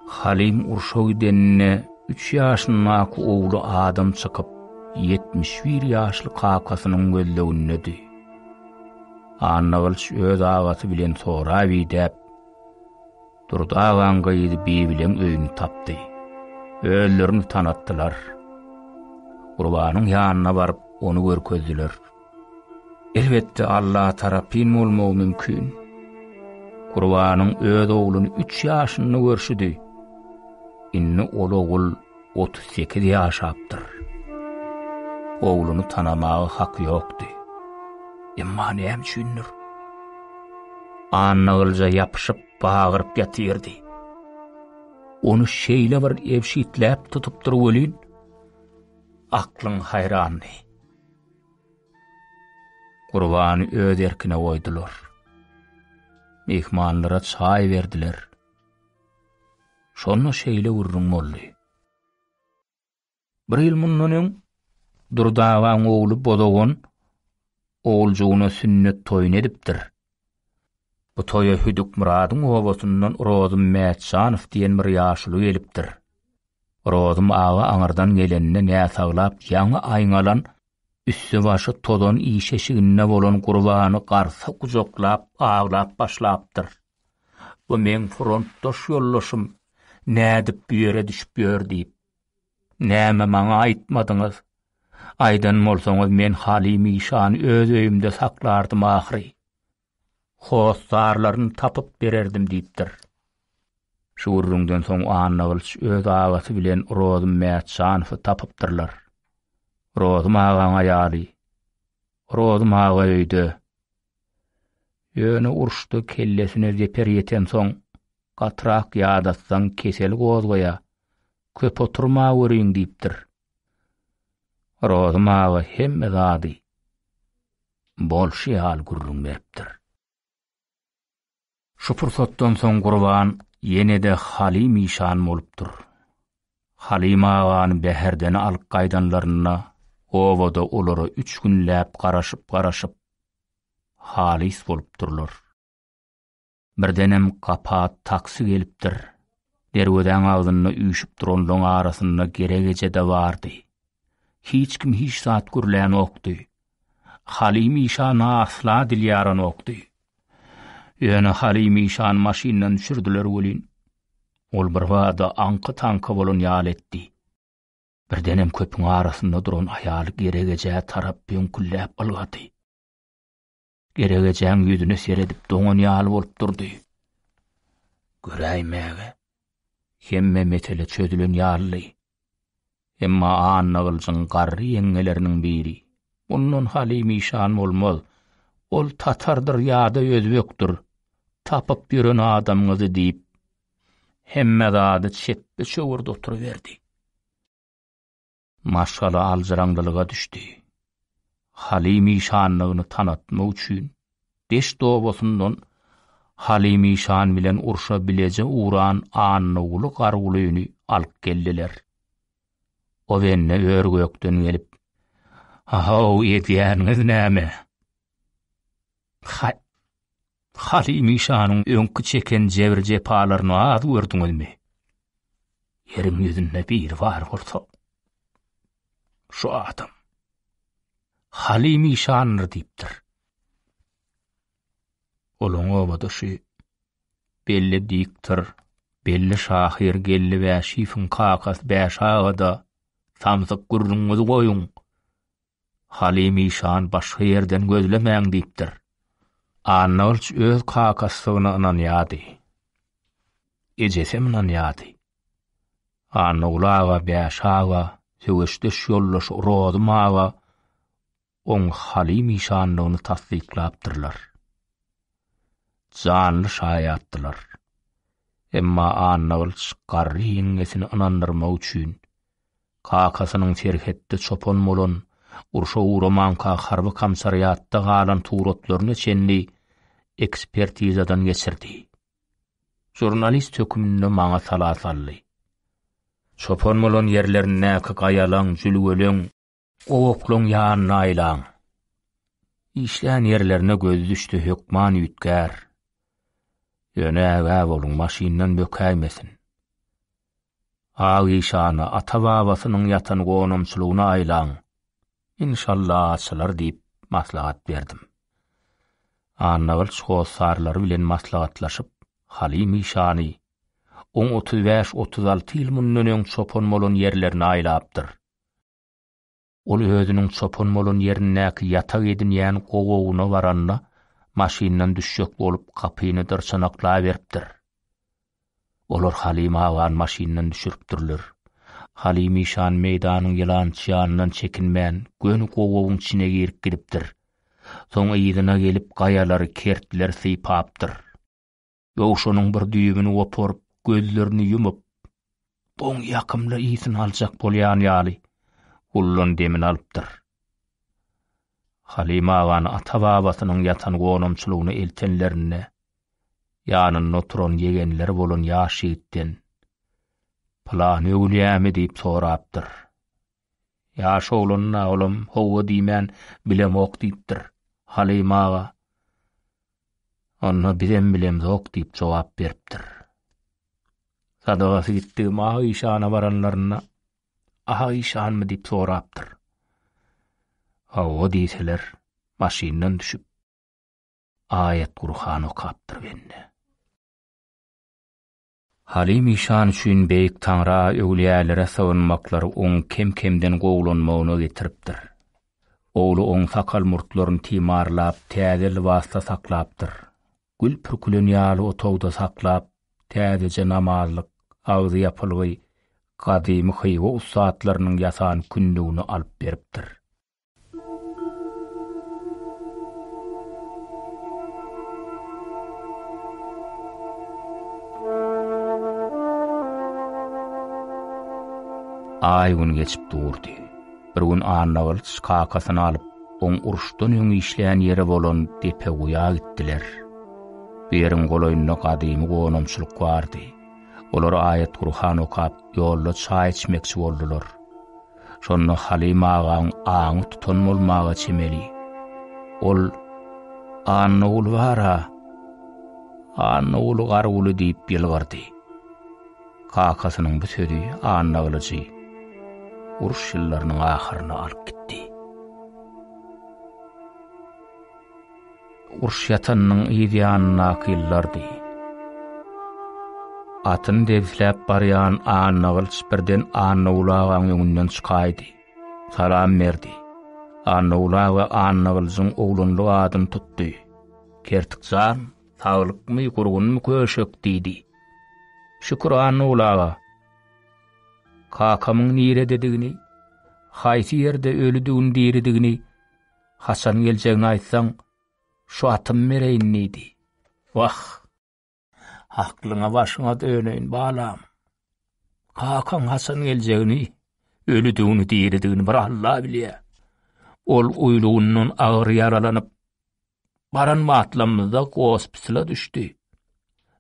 Halim urşa gidenine 3 ýaşyndaky ogly adam çykyp, 71 ýaşly kakasynyň gözlegindedi. Annagylyç öz agasy bilen soraw idäp, Durdy agaň gyzy Bibileň öýüni tapdy. Özlerini tanatdylar. Gurbanyň ýanyna baryp, ony görkezdiler. Elbetde, Allaha tarapyn bolmagy mümkin. Gurbanyň öz ogluny üç ýaşynda görşüdi. Indi ol ogul otuz sekiz ýaşapdyr. Ogluny tanamaga haky ýokdy. Emma näme üçindir? Annagylja ýapyşyp bagyryp ýatyrdy. Ony şeýle bir ebşitläp tutupdyr welin, aklyň haýrandy. Gurbany öz erkine goýdular. Myhmanlara çaý berdiler. Şonda şeýle gürrüň boldy. Bir ýyl mundan öň Durdabaň ogly Bozagon oguljygyna sünnet toýuny edipdir. Bu toýa Hüdükmyradyň obasyndan Rozym Mätjanow diýen bir ýaşuly gelipdir. Rozym aga aňyrdan gelende näsaglap ýaňy aýňalan Üsti-başy tozan işeşiginde bolan Gurbany garsa gujaklap aglap başlapdyr. Bu meň frontdaş ýoldaşym, nädip bu ýere düşüp ýör diýip. Näme maňa aýtmadyňyz? Aýdan bolsaňyz men Halymy şany öz öýümde saklardym ahyry. hossarlaryny tapyp bererdim diýipdir. Şu gürrüňden soň Annagylyç öz agasy bilen Rozum Mätjanowy tapypdyrlar. Rozum agaň aýaly. Rozum aga öýde. Ýöne uruşda kellesine zeper ýetensoň, gatyrak ýadatsaň kesel gozgaýa, köp oturmaweriň diýipdir. Rozum aga hemme zady, bolşy ýaly gürrüň beripdir. Şu pursatdan soň Gurban ýene-de Halim işan bolupdyr. Halim agany Bäherdene alyp gaýdanlarynda obada olara üç günläp garaşyp-garaşyp, halys bolupdyrlar. Birdenem gapa taksi gelipdir. Derwezäň agzynda üýşüp duranlaň arasynda gerek eje-de bardy. Hiç kim hiç zat gürlänokdy. Halim işana asla dil ýaranokdy. Ýöne Halim işany maşyndan düşürdiler welin, ol birbada aňky-taňky bolan ýaly etdi. Birdenem köpüň arasynda duran aýaly gerek ejä tarap böňkülläp ylgady. Geregejäň ýüzüne seredip doňan ýaly bolup durdy. Göräýmäge, hemme mesele çözülen ýalydy. Emma Annagylyjyň garry ýeňňeleriniň biri, Mundan Halim işan bolmaz. Ol tatardyr ýa-da özbekdir. Tapyp ýören adamyňyzy diýip, hemme zady çepbe çöwürdi oturyberdi. Maşgala aljyraňlylyga düşdi. Halim işanlygyny tanatmak üçin deşt obasyndan Halim işan bilen urşa bileje ugran Annaguly Gargulyny alyp geldiler. Ozenne ör-gökden gelip, Ahow, edýäniňiz näme? Halymy şanyň öňki çeken jebir-jepalaryny az gördüňizmi? Ýeriň ýüzünde biri bar bolsa, şu adam. Halymy şandyr diýipdir. Olaň obadaşy belli diktor, belli şahyr geldi Bäşiýewiň kakasy Bäş aga-da, samsyk gürrüňiňizi goýuň. Halim işan başga ýerden gözlemäň diýipdir. Annagylyç öz kakasydygyna ynanýardy. Ejesem ynanýardy. Annaguly aga, Bäş aga, söweşdeş ýoldaşy Rozym aga oň Halim işandygyny tassyklapdyrlar. Janly şaýatdylar. Emma Annagylyç garry ýeňňesini ynandyrmak üçin Kakasynyň serhetde çopan bolan, urşa ugramanka harby komsariatda galan suratlaryna çenli ekspertizadan geçirdi. Žurnalist höküminde maňa sala saldy. Çopan bolan ýerlerindäki gaýalaň, jülgeleň, Gowaklyň ýanyna aýlaň. Işlän ýerlerine gözi düşdi hökman üýtgär. Ýöne ägä boluň maşyndan bökäýmesin. Ak işana, ata-babasynyň ýatan gonamçylygyna aýlaň. Inşalla açylar diýip maslahat berdim. Annagylyç hossarlary bilen maslahatlaşyp, Halim işany, oň otuz bäş-otuz alty ýyl mundan öň çopan bolan ýerlerine aýlapdyr. Ol özüniň çopan bolan ýerindäki ýatag edinýän gowagyna baranda, maşyndan düşjek bolup gapyny dyrçanaklaberipdir. Olar Halymy agany maşyndan düşüripdirler. Halymy işan meýdanyň ýylançy ýanyndan çekinmän, göni gowagyň içine girip gidipdir. Soň yzyna gelip gaýalary kertler sypapdyr. Dowşanyň bir düýbüni goparyp, gözlerini ýumup, boň ýakymly ysyny aljak bolýan ýaly, gullan demini alypdyr. Halyma agany ata-babasynyň ýatan gonamçylygyna eltenlerinde, ýanynda oturan ýegenleri bolan ýaş ýigitden, Pylany öwülýämi diýip sorapdyr. Ýaş oglan-a olam, Hawa diýmän, bilemok diýipdir. Halyma aga, Onda bizem bilemzok diýip jogap beripdir. Sadagasy gitdigim Ak işana baranlarynda Ak işanmy diýip sorapdyr. Hawa diýseler, maşyndan düşüp, aýat-gurhan okapdyr bende. Halim işan üçin beýik Taňra öwlüýälere sygynmaklary oň kem-kemden gowulanmagyna getiripdir. Ogly oň sakal-murtlaryny timarlap, täze lybasda saklapdyr. Gül pürkülen ýaly otagda saklap, täzeje namazlyk, agzy ýapylgy, gadymy Hywa ussatlarynyň ýasan kündügini alyp beripdir. Aý gün geçip durdy. Bir gün Annagylyç kakasyny alyp, oň uruşdan öň işleýän ýeri bolan depe guýa gitdiler. Bu ýeriň golaýynda gadymy gonamçylyk bardy. Olar aýat-Gurhan okap, ýolda çaý içmekçi boldular. Şonda Halyma agaň aňy tutan bolmaga çemeli. Ol, Annaguly bar-a! Annaguly Garguly diýip ýylgyrdy. Kakasynyň bu sözi Annagylyjy uruş ýyllarynyň ahyryna alyp gitdi. Urş ýatanynyň yz ýanyndaky ýyllardy. Atyny debsläp barýan Annagylyç birden Annagul agaň öňünden çykaýdy. Salam berdi. Annagul aga Annagylyjyň oglanlyk adyny tutdy. Kertik jan, saglykmy, gurgunmy köşek? diýdi. Şükür Annagul aga. Kakamyň nirededigini, haýsy ýerde ölüdigini-diridigini Haçan geljegini aýtsaň, şu atymy bereýin diýdi. Wah! Aklyňa başyňa döneýin, balam. Kakaň haçan geljegini, ölüdigini, diridigini bir Alla bilýär. Ol uýlugyndan agyr ýaralanyp, baran matlamyzda gospitala düşdi.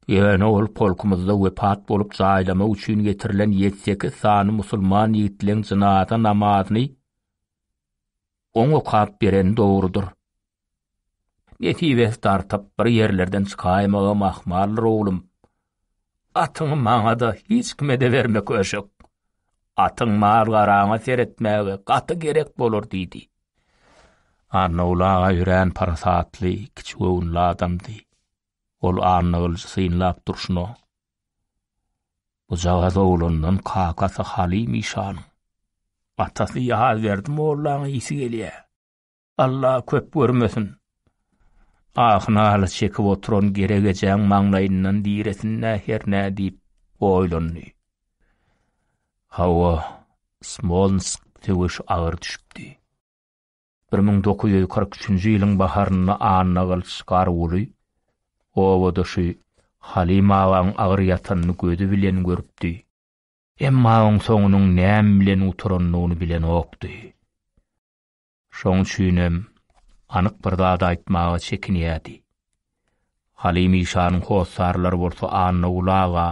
Ýöne ol polkumyzda wepat bolup jaýlamak üçin getirilen ýedi-sekiz sany musulman ýigitleň jynaza namazyny Oň okap beren dogrudyr. Nesibesi dartyp bir ýerlerden çykaýmagam ahmaldyr oglum. Atyňy maňa-da, hiç kime-de berme köşek. Atyň mal-garaňa seretmäge gaty gerek bolar diýdi. Annagül aga örän parasatly, kiçigöwünli adamdy. Ol Annagylyjy synlap durşuna, Bujagaz oglandan kakasy Halim işanyň, atasy Ýazberdi mollaň ysy gelýä. Alla köp görmesin. Ahy naly çekip oturan Gerek ejäň maňlaýyndan diresin-dä hernä diýip oýlandy. Hawa, Smolnsk söweş agyr düşüpdi. Bir müň dokuz ýüz kyrk üçünji ýylyň baharynda Annagylyç Garguly obadaşy Halim agaň agyr ýatanyny gözi bilen görüpdi. Emma oň soňunyň näme bilen gutaranyny bilenokdy. Şoň üçinem anyk bir zat aýtmaga çekinýärdi. Halim işanyň hossarlary bolsa Annaguly aga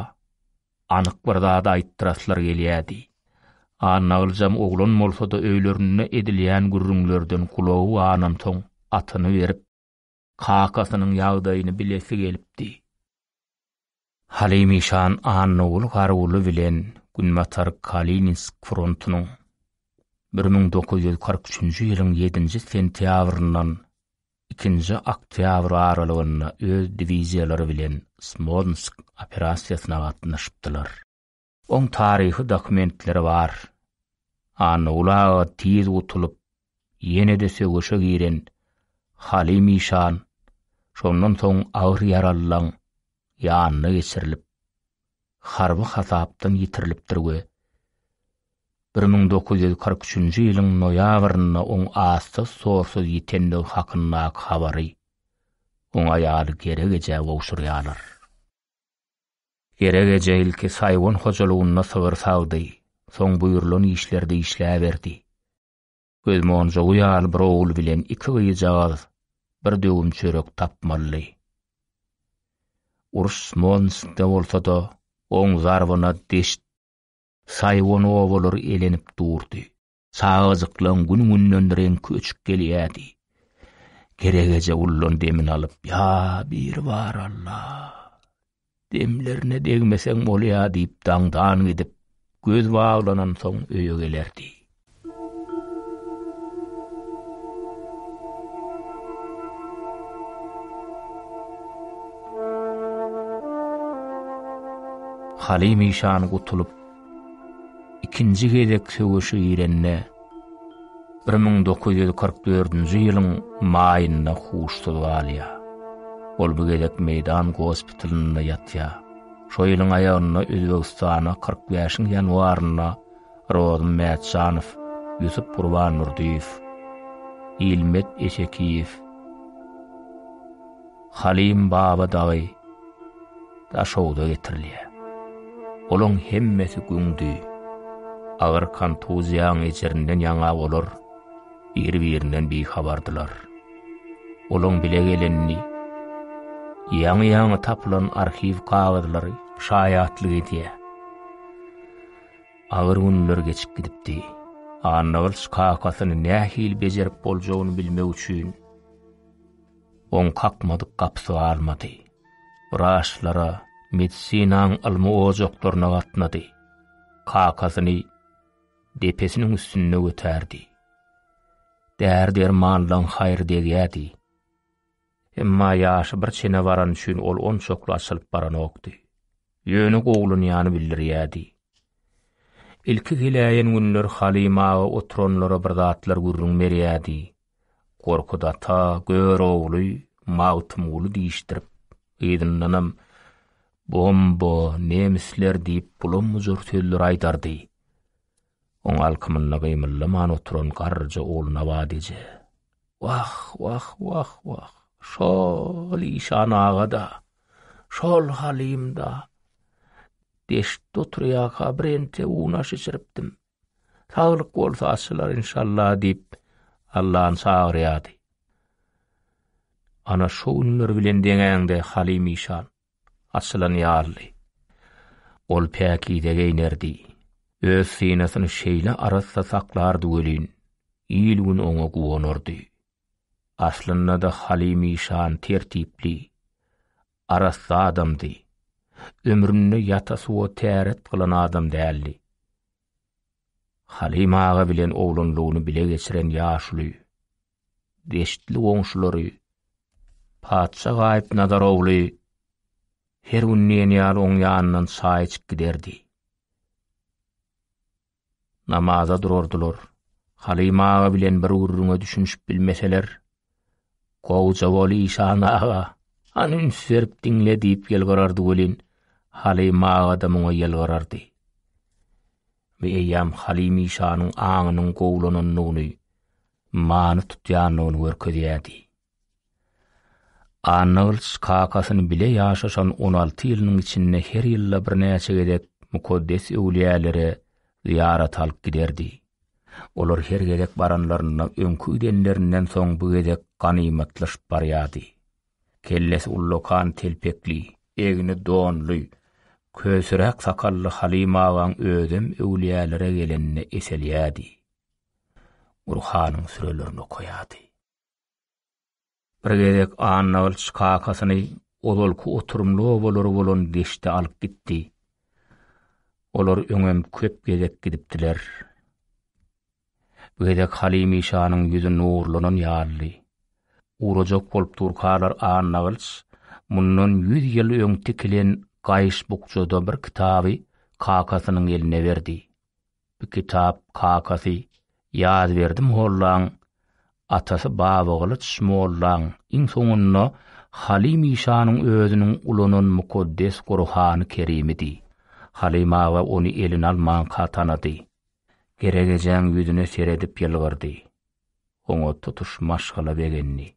Anyk bir zady aýtdyraslar gelýärdi. Annagylyjam oglan bolsa-da öýlerinde edilýän gürrüňlerden gulagy ganansoň atyny berip, kakasynyň ýagdaýyny bilesi gelipdi. Halim işan Annaguly Garguly bilen Günbatar Kalininsk frontunyň bir müň dokuz ýüz kyrk üçünji ýylyň ýedinji sentýabryndan Ikinji oktýabr aralygynda öz diwiziýalary bilen Smolnsk operasiýasyna gatnaşypdylar. Oň taryhy dokumentleri bar. Annaguly aga tiz gutulyp, ýene-de söweşe giren Halim işan şondan soň agyr ýaralylaň ýanyna geçirilip, harby hasapdan ýitirilipdir we bir müň dokuz ýüz kyrk üçünji ýylyň noýabrynda oň azsyz-sorsuz ýitendigi hakyndaky habary oň aýaly Gerek ejä gowşurýarlar. Gerek eje ilki Saýwan hojalygynda sygyr sagdy, soň buýrulan işlerde işläberdi. Göz monjugy ýaly bir ogul bilen iki gyzjagaz bir döwüm çörek tapmaly. Uruş Smolnskde bolsa-da, oň zarbyna deşt, saýwan obalary elenip durdy. Çagajyklaň gün-günden reňki öçüp gelýärdi. Geregeje ullan demini alyp, Ýa Biribar Alla! Demlerine degmeseň bolýa diýip daňdan gidip, göz baglanansoň öýe gelerdi. Halim işan gutulyp, ikinji gezek söweşe girende, bir müň dokuz ýüz kyrk dördünji ýylyň maýynda huşsuz galýar. Ol bu gezek meýdan gospitalynda ýatýar. Şo ýylyň aýagynda Özbegistana kyrk bäşiň ýanwarynda Rozym Mätjanow, Ýusup Gurbandurdyýew, Ilmet Esekiýew, Halim Baba dagy Daşogza getirilýär. Olaň hemmesi güňdi. Agyr kontuziýaň ejirinden ýaňa olar bir-birinden bihabardylar. Olaň bile gelenini ýaňy-ýaňy tapylan arhiw kagyzlary şaýatlyk edýär. Agyr günler geçip gidipdi. Annagylyç kakasyny nähili bejerip boljagyny bilmek üçin oň kakmadyk gapysy galmady. Wraçlara, medisinaň ylmy ojaklaryna gatnady. Kakasyny depesiniň üstünde götärdi. Däri-dermanlaň haýry degýädi. Emma ýaşy bir çene barany üçin ol onçakly açylyp baranokdy. Ýöne gowulanýany bildirýädi. Ilki geläýen günler Halyma aga oturanlara bir zatlar gürrüň berýädi. Gorkut ata Görogly Magtymguly diýişdirip, yzyndanam Bomba, nemisler diýip bulam-bujur sözler aýdardy. Oň alkymynda gymyldaman oturan garryja Ogulnabat eje, Wah, wah, wah, wah, şo-ol işan aga-da, şo-ol Halym-da, deştde oturýarka birente unaş içiripdim. Saglyk bolsa açylar inşallah diýip Allan çagyrýardy. Ana şu günler bilen deňäňde Halim işan açylan ýaly. Ol päkize geýnerdi. Öz synasyny şeýle arassa saklardy welin, il-gün oňa guwanardy. Aslynda-da Halim işan tertipli, arassa adamdy. Ömründe ýata suwa täret gylan adam däldi. Halim aga bilen oglanlygyny bile geçiren ýaşuly. Deştli goňşulary Patşa gaýyp Nazar ogly her gün diýen ýaly oň ýanyndan çaý içip giderdi. namaza durardylar. Halim aga bilen bir gürrüňe düşünişip bilmeseler, Gowja bol işan aga, han üns berip diňle diýip ýylgyrardy welin, Halim aga-da muňa ýylgyrardy. Bu eýýam Halim işanyň aňynyň gowulanandygyny, many tutýandygyny görkezýärdi. Annagylyç kakasyny bile ýaşaşan on alty ýylynyň içinde her ýylda birnäçe gezek mukaddes öwlüýälere zyýarata alyp giderdi. Olar her gezek baranlarynda öňki gidenlerinden soň bu gezek ganymatlaşyp barýardy. Kellesi ullakan telpekli, egni donly, kösüräk sakally Halyma agaň özem öwlüýälere gelende eselýärdi. Gurhanyň sürelerini okaýardy. Bir gezek Annagylyç kakasyny ozalky oturymly obalary bolan deşde alyp gitdi. Olar öňem köp gezek gidipdiler. Bu gezek Halimi şanyň ýüzi nurlanan ýalydy. Urajak bolup durkalar Annagylyç mundan ýüz ýyl öň tikilen gaýyş bukjada bir kitaby kakasynyň eline berdi. Bir kitap kakasy Ýazberdi mollaň, atasy Babagylyç mollaň, iň soňunda Halim işanyň özüniň ulanan mukaddes Gurhany Kerimidi. Halim aga ony eline almanka tanady. Geregejäň ýüzüne seredip ýylgyrdy. Oňa tutuş maşgala begendi.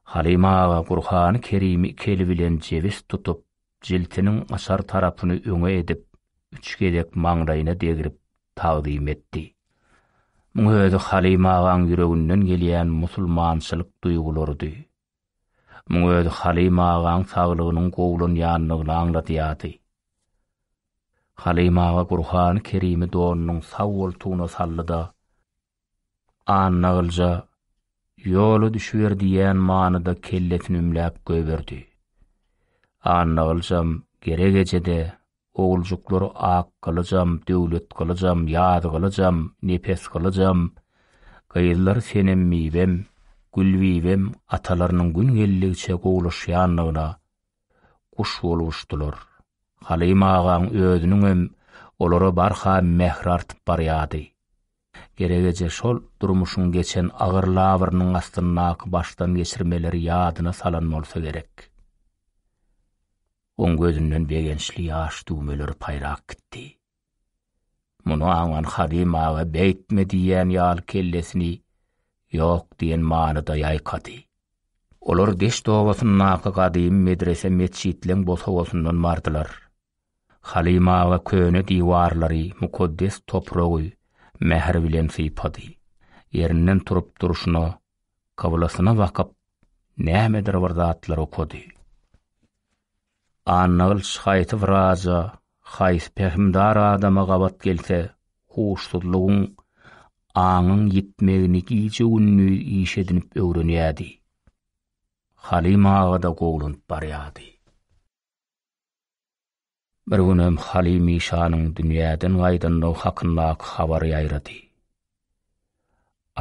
Halyma aga Gurhany Kerimi iki eli bilen jebis tutup, jiltiniň açar tarapyny öňe edip, üç gezek maňlaýyna degrip tagzym etdi. Muň özi Halyma agaň ýüreginden gelýän musulmançylyk duýgularydy. Muň özi Halyma agaň saglygynyň gowulanýandygyny aňladýardy. Halyma aga Gurhany Kerimi donunyň sag goltugyna saldy-da, Annagylja, Ýola düşüber diýýän manyda kellesini ümläp goýberdi. Annagyljam gerek eje-de, oguljuklary Akgylyjam, Döwletgylyjam, Ýazgylyjam, Nepesgylyjam, gyzlary Senembibem, Gülbibem atalarynyň gün geldigiçe gowulaşýandygyna guş bolup uçdular. Halym agaň özüniňem olara barha mähri artyp barýardy. Gerek eje şol durmuşyň geçen agyr labyrynyň astyndaky başdan geçirmeleri ýadyna salan bolsa gerek. Oň gözünden begençli ýaş düwmeleri paýrap gitdi. Muny aňan Hadym aga beýtme diýýän ýaly kellesini ýok diýen manyda ýaýkady. Olar deşt obasyndaky gadymy medrese-metjitleň bosagasyndan bardylar. Halim aga köne diwarlary, mukaddes topragy mähir bilen sypady. Ýerinden turup durşuna, kyblasyna bakyp, nämedir bir zatlar okady. Annagylyç haýsy wraja, haýsy pähimdar adama gabat gelse, huşsuzlygyň, aňyň ýitmegini gije-gündiz iş edinip öwrenýärdi. Halim aga-da gowulynyp barýardy. Bir günem Halim işanyň dünýäden gaýdandygy hakyndaky habar ýaýrady.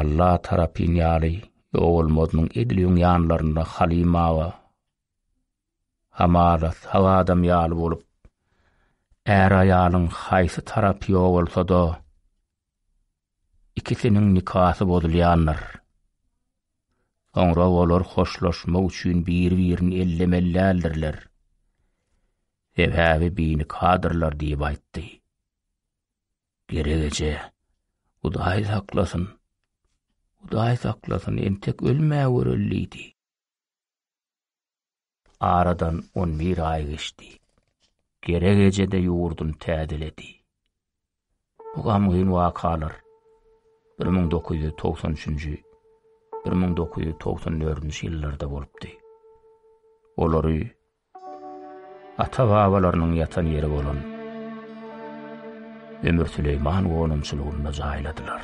Alla tarapyn ýaly ýowulmazynyň edil öň ýanlarynda Halim aga hamala sag adam ýaly bolup, är-aýalyň haýsy tarapy ýowulsa-da, Ikisiniň nikasy bozulýandyr. Soňra olar hoşlaşmak üçin bir-birini ellemelläldirler. Sebäbi binikadyrlar diýip aýtdy. Geregeje, Hudaý saklasyn. Hudaý saklasyn, entek ölmäweri öldüdi. Aradan on bir aý geçdi. Gerek eje-de ýurduny täzeledi. Bu gamgyn wakalar bir müň dokuz ýüz togsan üçünji, bir müň dokuz ýüz togsan dördünji ýyllarda bolupdy. Olary ata-babalarynyň ýatan ýeri bolan Ömür Süleýman gonamçylygynda jaýladylar.